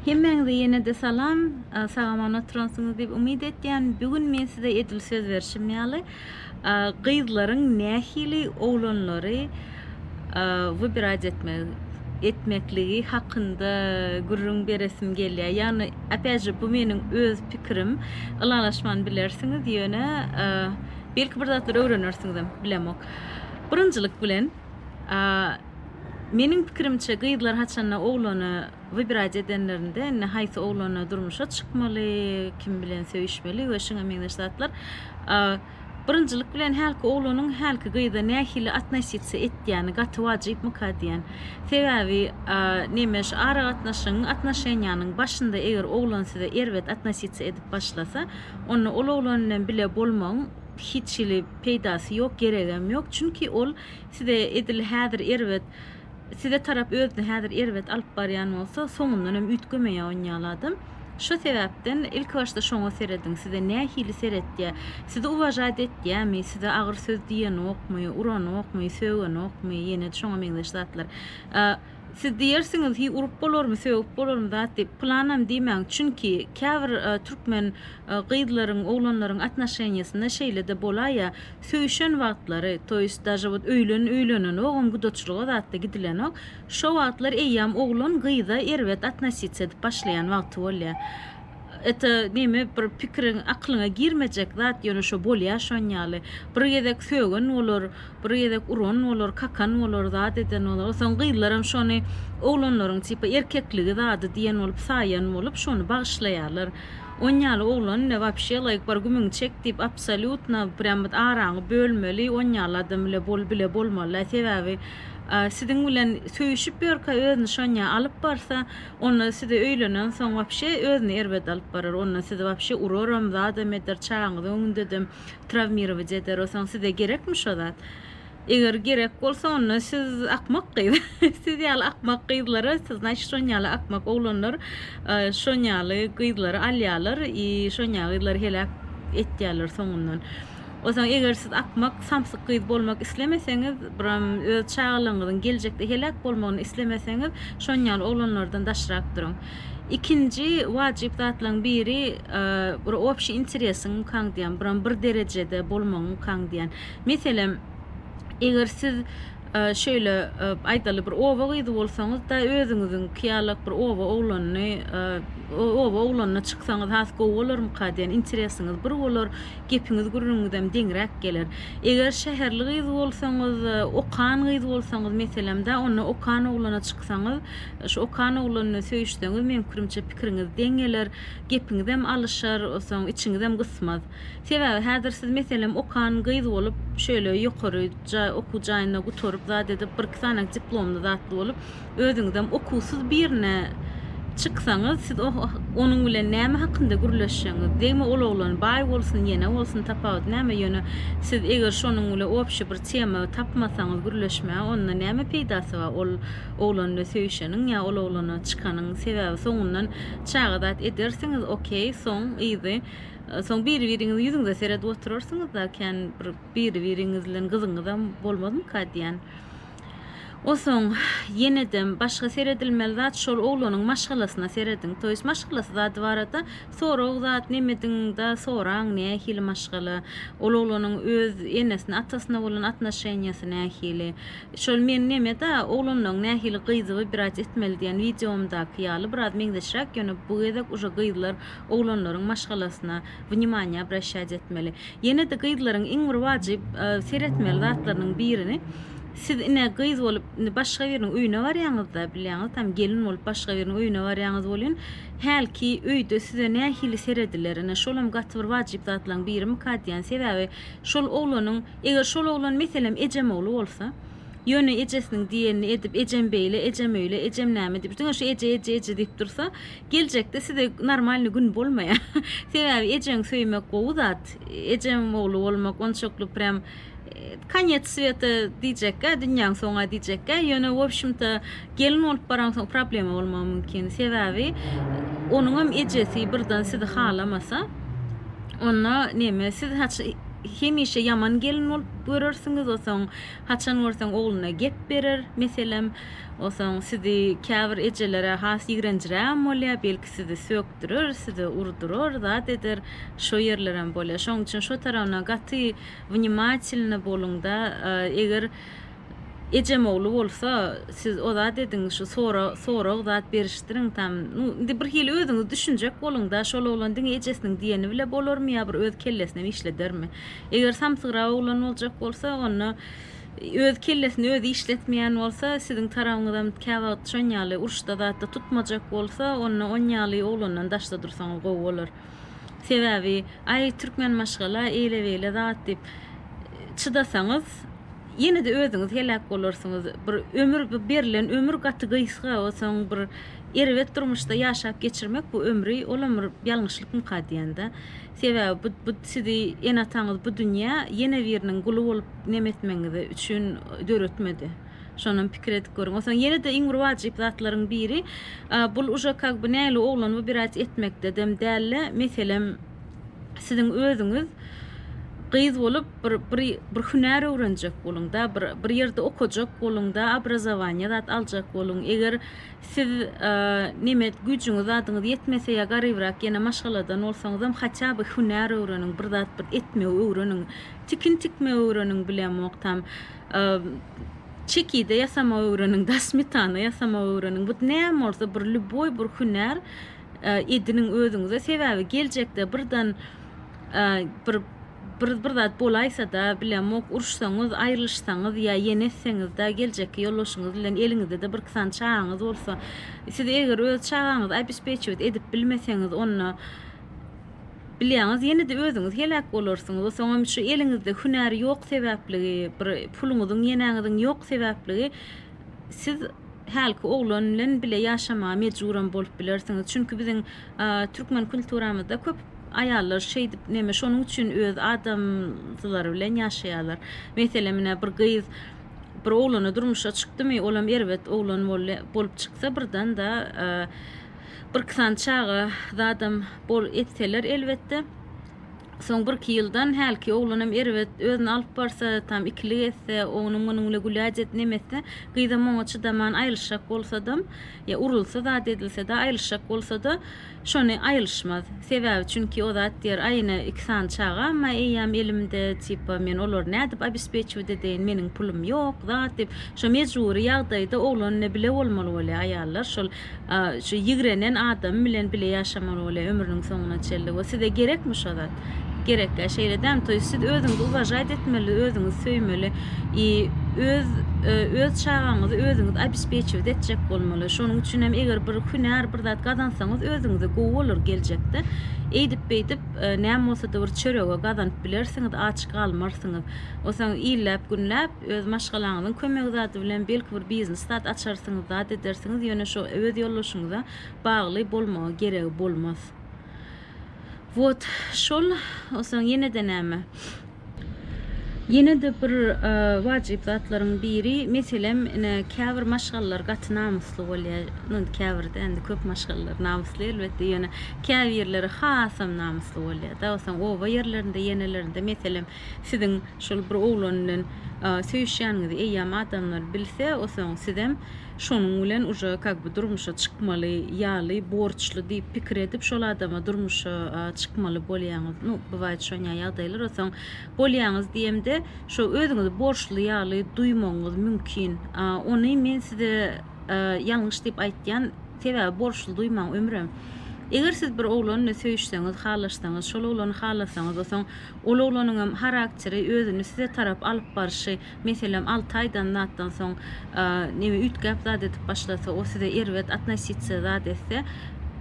Hemmäňize ýene-de salam. Sagaman oturansyňyz diýip umyt etýän. Bu gün men size edil söz berşim ýaly, gyzlaryň nähili oglanlary wybirać etmekligi hakynda gürrüň beresim gelýär. Ýagny, opýat je, bu meniň öz pikirim. Ylalaşman bilersiňiz, ýöne belki bir zatlar öwrenersiňizem, bilemok. Birinjilik bilen, Meniň pikirimçe gyzlar haçanda oglana wybirać edenlerinde indi haýsy oglana durmuşa çykmaly, kim bilen söýüşmeli we şuňa meňzeş zatlar birinjilik bilen hälki oglanyň hälki gyza nähili atnositsa etýäni gaty wajypmyka diýen. Sebäbi nemes aragatnaşygyň atnoşeniýanyň başynda eger oglan size erbet atnositsa edip başlasa onda ol oglan bilen bile bolmagyň hiç hili peýdasy ýok geregem ýok çünki ol Size edil häzir erbet Size tarap özüni häzir erbet alyp barýan bolsa, soňundan hem üýtgemeýär on ýaly adam. Şo sebäpden ilki başda şoňa serediň, size nähili seretýär, sizi uwažaýt etýärmi, size agyr söz diýenokmy, uranokmy, sögenokmy, ýene-de şoňa meňzeş zatlar. Siz diýersiňiz, hiý urup bolarmy, sögüp bolarmy zat diýip. Pylanam diýmäň, çünki käbir türkmen gyzlaryň, oglanlaryň atnoşeniýasynda şeýle-de bolaýýa, söýüşen wagtlary, to ýest daže wot öýlen öýlenenogam, gudaçylyga zat-da gidilenok, şo wagtlar eýýäm oglan gyza erbet atnositsiýa edip başlaýan wagty bolýa. Ete gemi bir pikiriň aklyňa girmejek zat ýöne şo bolýa şon ýaly. Bir gezek sögen bolar, bir gezek uran bolar, kakan bolar, zat eden bolar. Onsoň gyzlaram şony oglanlaryň tipa erkekligi zady diýen bolup saýan bolup şony bagyşlaýarlar. On ýaly oglan ile wapşe laýk bar gümüňi çek diýip absolýutno prýam bit araňy bölmeli on ýaly adam ile bol bile bolmaly sebäbi siziň bilen söýüşip ýörkä özüni şonýa alyp barsa Onda size öýlenen soň wapşe özüni erbet alyp barar onda sizi wapşe uraram zadam eder çagaňyzy öňündedem trawmirować eder osaň size gerekmi şo zat eger gerek bolsa onda siz akmak gyz siz ýaly akmak gyzlara siz naçe şon ýaly akmak oglanlar şon ýaly gyzlary alýalar i şon ýaly gyzlary heläk etýäler soňundan. Onsoň eger siz akmak, samsyk gyz bolmak islemeseňiz, biram öz çagalaryňyzyň geljekde heläk bolmagyny islemeseňiz, şonýaly oglanlardan daşrak duruň. Ikinji wajyp zatlaryň biri, bir obşiý interesiň ýkaň diýýän, biram bir derejede bolmagyň ýkaň diýýän. Meselem, eger siz şeýle, aýdaly, bir oba gyzy bolsaňyz-da, özüňiziňki ýalak bir oba oglanyny, oba oglanyna çyksaňyz has gowy bolarmyka diýen interesiňiz bir bolar. gepiňiz gürrüňiňizem deňräk geler. Eger şäherli gyz bolsaňyz, okan gyz bolsaňyz meselemda, onda okan oglana çyksaňyz, şu okan oglan bilen söýüşseňiz, meň pikirimçe pikiriňiz deň geler, gepiňizem alyşar, soň içiňizem gysmaz. Sebäbi häzir siz meselem okan gyz bolup, şöyle ýokary okuw jaýynda gutaryp, zat edip, birki sany diplomly zatly bolup, Özüňizem okuwsyz birine çyksaňyz, siz onuň bilen näme hakynda gürleşjegiňiz? Degme ol oglan baý bolsun, ýene bolsun, tapawudy näme? Ýöne siz eger şonuň bilen obşi bir tema tapmasaňyz gürleşmäge, onda näme peýdasy bar? Ol oglan bilen söýüşeniň ýa ol oglana çykanyň sebäbi soňundan çaga zat edersiňiz, okey, soň yzy, soň biri-biriňiziň ýüzüňize seredip oturarsyňyz-da, kän bir biri-biriňiz bilen gyzyňyzam bolmazmyka diýýän. Osoň, ýenedem, başga seredilmeli zat şol oglanyň maşgalasyna serediň. Toýs maşgalasy zady barada sorag zat nemediň-da soraň, nähili maşgala, ol oglanyň öz enesine, atasyna bolan atnoşeniýasy nähili. Şol men neme-da, oglanlaň nähili gyzyby biraz etmeli diýen wideomdaky ýaly biraz meňzeşräk, ýöne bu gezek uje gyzlar oglanlaryň maşgalasyna wnimanýa obraşýat etmeli. Ýene-de gyzlaryň iň bir wajyp seretmeli zatlarynyň birini, siz ine gyz bolup indi başga biriniň öýüne barýaňyzda, bilýäňiz tam gelin bolup başga biriniň öýüne barýaňyz welin, hälki öýde size nähili serediler, ine şolam gaty bir wajyp zatlaryň birimikä diýýän. Sebäbi şol oglanyň, eger şol oglan meselem ejem ogly bolsa, ýöne ejesiniň diýenini edip, ejem beýle, ejem öýle, ejem näme diýip, diňe şu eje, eje, eje diýip dursa, Geljekde size normalny gün bolmaýa. Sebäbi ejeňi söýmek gowy zat. Ejeň ogly bolmak onçakly prýam konyec sweta diýjekgä, dünýäň soňa diýjekgä. Ýöne wobşimto gelin bolup baraňsoň problema bolmagy mümkin. Sebäbi onuňam ejesi birden sizi halamasa, onda neme siz hemişe ýaman gelin bolup görersiňiz, osoň haçan görseň ogluna gep berer. Meselem, Onsoň sizi käbir ejelere has ýigrenjirägem bolýar, belki sizi sökdürer, size urdurar, zat eder, şo ýerlerem bolýar. Şoň üçin şo tarabyna gaty wnimatelny boluňda, eger ejem ogly bolsa, siz o zat ediň, şu sora sorag zat berişdiriň tam, nu, indi bir hili özüňiz düşünjek boluňda, şol oglan diňe ejesiniň diýeni bile bolarmy ýa bir öz kellesinem işledermi? Eger samsygrak oglan boljak bolsa, onda, Öz kellesini özi işletmeýän bolsa, siziň tarabyňyzam käwagt şon ýaly uruşda zatda tutmajak bolsa, onda on ýaly oglandan daşda dursaňyz gowy bolar. Sebäbi, aý türkmen maşgala eýle-beýle zat diýip çydasaňyz, ýene-de özüňiz heläk bolarsyňyz. Bir ömür, bu berlen ömür gaty gysga, onsoň bir erbet durmuşda ýaşap geçirmek bu ömri, olam bir ýalňyşlykmyka diýende. Sebäbi bu bu sizi ene-ataňyz bu dünýä ýene biriniň guly bolup neme etmegiňiz üçin döretmedi. Şonam pikir edip görüň. Onsoň ýene-de iň bir wajyp zatlaryň biri bul uje kag by näli oglan bu birät etmekde dem däl-de meselem siziň özüňiz gyz bolup bir bir bir hünär öwrenjek boluň-da bir bir ýerde okajak boluň-da obrazowaniýa zat aljak boluň eger Siz nemes güýjüňiz zadyňyz ýetmese ýa garybrak ýene maşgaladan bolsaňyzam haça by hünär öwreniň bir zat bir etmegi öwreniň tikin tikmegi öwreniň bilemok tam çekide ýasamagy öwreniň da smetana ýasamagy öwreniň bu näme bolsa bir lýuboý bir hünär ediniň özüňize sebäbi geljekde birden bir bir bir zat bolaýsa-da, bilemok, uruşsaňyz, aýrylyşsaňyz ýa ýene etseňiz-de, geljekki ýoldaşyňyz bilen eliňizde-de birki sany çagaňyz bolsa, siz eger öz çagaňyzy obespečiwet edip bilmeseňiz, onda, bilýäňiz, ýene-de özüňiz heläk bolarsyňyz. O soňam şu eliňizde hünär ýok sebäpligi, bir puluňyzyň, ýenäňiziň ýok sebäpligi siz, hälki oglan bilen bile ýaşamaga mejburam bolup bilersiňiz. Çünki biziň türkmen kulturamyzda köp aýallar şeýdip neme şonuň üçin öz adamsylary bilen ýaşaýarlar. Meselem ine bir gyz bir oglana durmuşa çykdymy olam erbet oglan bolup çyksa birdanda bir iki sany çaga zadam etseler elbetde Soň birki ýyldan hälki oglanam erbet özüni alyp barsa, tam ikilik etse, oňuňam munuňla güläcet nemetse, gyzam oňa çydaman aýylyşjak bolsadam, ýa urulsa zat edilse-de, aýylyşjak bolsa-da, şony aýylyşmaz. Sebäbi çünki o zat diýer, aýyna iki sany çagam-a eýýäm elimde, tipa, men olary nädip obespeçiwit edeýin, meniň pulum ýok, zat diýip, şo mejbury ýagdaýda oglan-da bile bolmaly bolýar, aýallar şol Şu ýigrenen adamy bilen bile ýaşamaly bolýa ömrüniň soňuna çenli we size gerekmi şo zat? Gerekkä şeýle däl toýy siz özüňizi uwažaýt etmeli özüňizi söýmeli i öz öz çagaňyzy özüňiz abispeçiwt etjek bolmaly şonuň üçinem eger bir hünär bir zat gazansaňyz özüňize gowy bolar geljekde eýdip beýdip näme bolsada bir çörege gazanyp bilersiňiz aç galmarsyňyz osaň illeap günläp Öz maşgalaňyzyň kömegi zady bilen belki bir biznes zat açarsyňyz, zat edersiňiz, ýöne şo öz ýoldaşyňyza bagly bolmagy geregi bolmaz. Wot şol Soň ýene-de näme? Ýene-de bir wajyp zatlaryň biri, meselem, ine, käbir maşgalalar gaty namysly bolýar, nu, indi käbir-de, indi köp maşgalalar namysly elbetde, ýöne käbirleri hasam namysly bolýar-da. Soň oba ýerlerinde, ýenelerinde, meselem, Siziň şol bir oglan bilen söýüşýäniňizi eýýäm adamlar bilse, osoň sizem şonuň bilen uje kak by durmuşa çykmaly ýaly borçly diýip pikir edip şol adama durmuşa çykmaly bolýaňyz. Nu, bywaýt şonýa ýagdaýlar. Osoň bolýaňyz diýemde şo özüňizi borçly ýaly duýmagyňyz mümkin. Ony men size ýalňyş diýip aýtýan, sebäbi borçly duýmaň ömrem. Eger siz bir oglan bilen söýüşseňiz, halaşsaňyz, şol oglany halasaňyz, osoň Ol oglanyňam harakteri, özüni size tarap alyp barşy, meselem, alty aýdan zatdan soň, neme, üýtgäp zat edip başlasa, o size erbet atnositsiýa zat etse,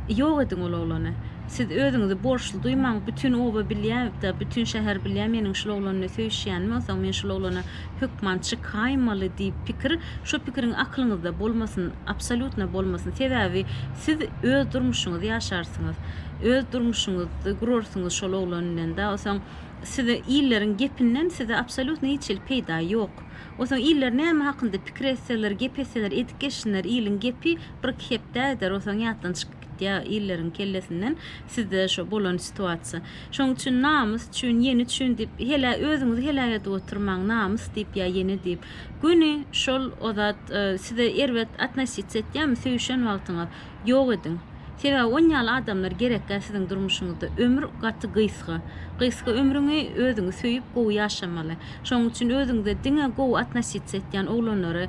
ýok ediň ol oglany. Siz özüňizi borçly duýmaň, bütin oba bilýä, da bütin şäher bilýä meniň şul oglan bilen söýüşýänimi, onsoň men şul oglana hökman çykaýmaly diýip pikir, şo pikiriň aklyňyzda bolmasyn, absolýutno bolmasyn. Sebäbi siz öz durmuşyňyzy ýaşarsyňyz. öz durmuşyňyzy gurarsyňyz şol oglan bilen da osoň size illeriň gepinden size absolýutno hiç hili peýda ýok osoň iller näme hakynda pikir etseler gep etseler edip geçsinler iliň gepi bir iki hepdä gider osoň ýatdan çykyp gitýä illeriň kellesinden sizde şo bolan situasiýa şoň üçin namys üçin ýeni üçin diýip helä özüňizi heläk edip oturmaň namys diýip ýa ýeni diýip göni şol ozat size erbet atnasitsa etýämi söýüşen wagtyňyz Ýok ediň. Sebäbi on ýaly adamlar gerekgä siziň durmuşyňyzda. Ömür gaty gysga. Gysga ömrüňi özüňi söýüp gowy ýaşamaly. Şonuň üçin özüňize diňe gowy atnositsiýa etýän oglanlary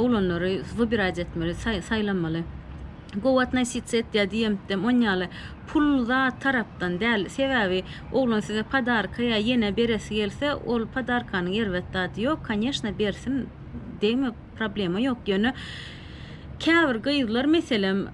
oglanlary wybirać etmeli, saýlamaly. Gowy atnositsiýa etýär diýemtdem on ýaly pul zat tarapdan däl. Sebäbi oglan size podarka ýa ýene beresi gelse ol podarkanyň erbet zady ýok, koneşna bersin degme problema ýok ýöne Käbir gyzlar meselem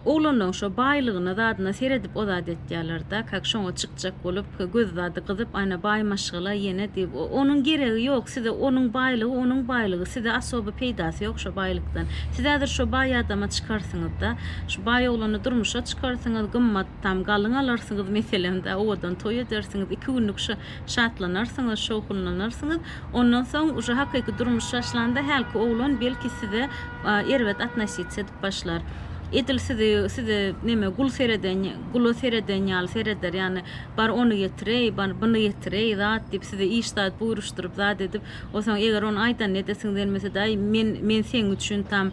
oglanlaň şo baýlygyna zadyna seredip o zat etýälerda kak şoňa çykjak bolup göz zady gyzyp ana baý maşgala ýene diýip onuň geregi ýok size onuň baýlygy onuň baýlygy size asoby peýdasy ýok şo baýlykdan siz häzir şo baý adama çykarsyňyzda şu baý oglany durmuşa çykarsyňyz gymmat tam galyň alarsyňyz meselem da owadan toý edersiňiz iki günlük şo Şatlanarsyňyz, şowhunlanarsyňyz. Ondan soň uje hakyky durmuş başlanda hälki oglan belki size erbet atnositsiýa edip başlar. Edil sizi size neme gul sereden gula sereden ýaly sereder. Ýagny bar ony getireý, bar buny getireý zat diýip size iş zat buýruşdyryp zat edip. Onsoň eger ony aýdanyny edesiňiz gelmesede aý men men seň üçin tam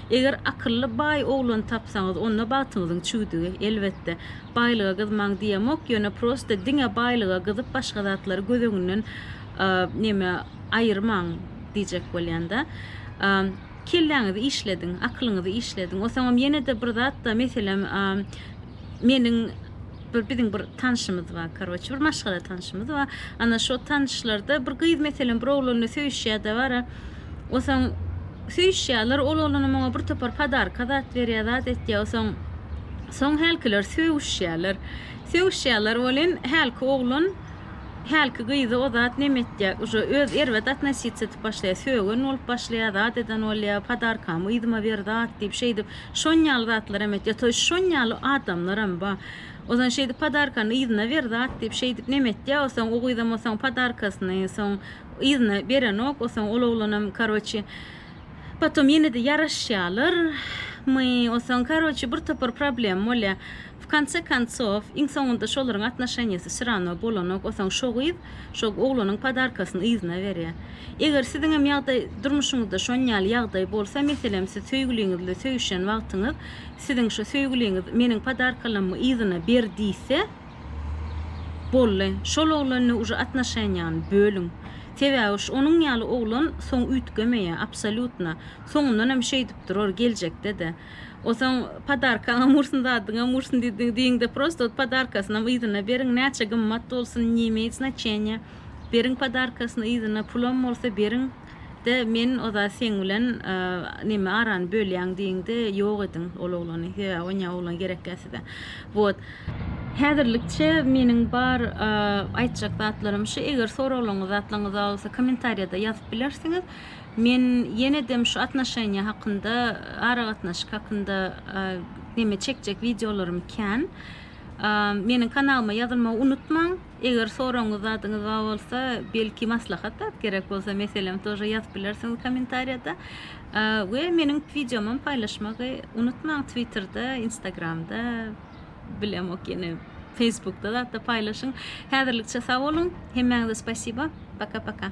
Eger akylly baý oglan tapsaňyz onda bagtyňyzyň çüwdügi, elbetde. Baýlyga gyzmaň diýemok, ýöne prosta diňe baýlyga gyzyp başga zatlary göz öňünden neme aýyrmaň diýjek bolýanda. Kelläňizi işlediň, akylyňyzy işlediň. Osaňam ýene-de bir zatda meselem meniň Bir biziň bir tanşymyz bar karoçe bir maşgala tanşymyz bar ana şo tanşlarda bir gyz meselem bir oglanla söýüşýä dabara osaň söýüşýäler ol oglanam oňa bir topar padarka zat berýä zat etýä osaň soň hälkiler söýüşýäler söýüşýäler welin hälki oglan hälki gyzy o zat neme etýä uže öz erbet atnosiýa etip başlaýa söýgen bolup başlaýa zat eden bolýa padarkamy yzyma ber zat diýip şeýdip Şonýaly zatlaram etýär. Toý şonýaly adamlaram ba. Ozan şeýdip podarkany yzyna ber zat diýip şeýdip neme etýä osoň o gyzam osoň podarkasyny soň yzyna berenok osoň ol oglanam karoçi potom ýenede ýaraşýalar my osoň karoçi bir topar problem bolýa W konce koncow, iň soňunda şolaryň atnoşeniýasy syrano bolanok, osaň şo gyz şo oglanyň podarkasyny yzyna berýär. Eger siziňem ýagdaý, durmuşyňyzda şon ýaly ýagdaý bolsa, meselem siz söýgüliňiz bilen söýüşen wagtyňyz, siziň şo söýgüliňiz meniň podarkalammy yzyna ber diýse, bolly, şol oglanne uje atnoşeniýany bölüň. Sebäbi şu onuň ýaly oglan soň üýtgemeýär, absolýutno. Soňundanam şeýdip durar, geljekde-de. O soň podarkaňam ursun zadyňam ursun diýdi diýiňde prosto ot podarkasynam yzyna beriň näçe gymmat bolsun ne imeýt znaçeniýa beriň podarkasyny yzyna pulam bolsa beriň de men ozat seň bilen neme arany bölýän diýiňde ýok ediň ol oglany sebäbi onýa oglan gerekýa size wot. Häzirlikçe meniň bar aýtjak zatlarym şu eger soraglaryňyz zatlaryňyz bar bolsa kommentariýada ýazyp bilersiňiz Men ýenedem şu atnoşeniýa hakynda aragatnaşyk hakynda neme çekjek wideolarym kän. Meniň kanalyma ýazylmagy unutmaň. Eger soragyňyz zadyňyz bar bolsa, belki maslahat zat gerek bolsa meselem tor ýazyp bilersiňiz komentariýada. We meniň wideomam paýlaşmagy unutmaň twitterde, instagramda, bilemok ýene feýsbukda zatda paýlaşyň. Häzirlikçe sag boluň. Hemmäňize spasiba. Paka paka.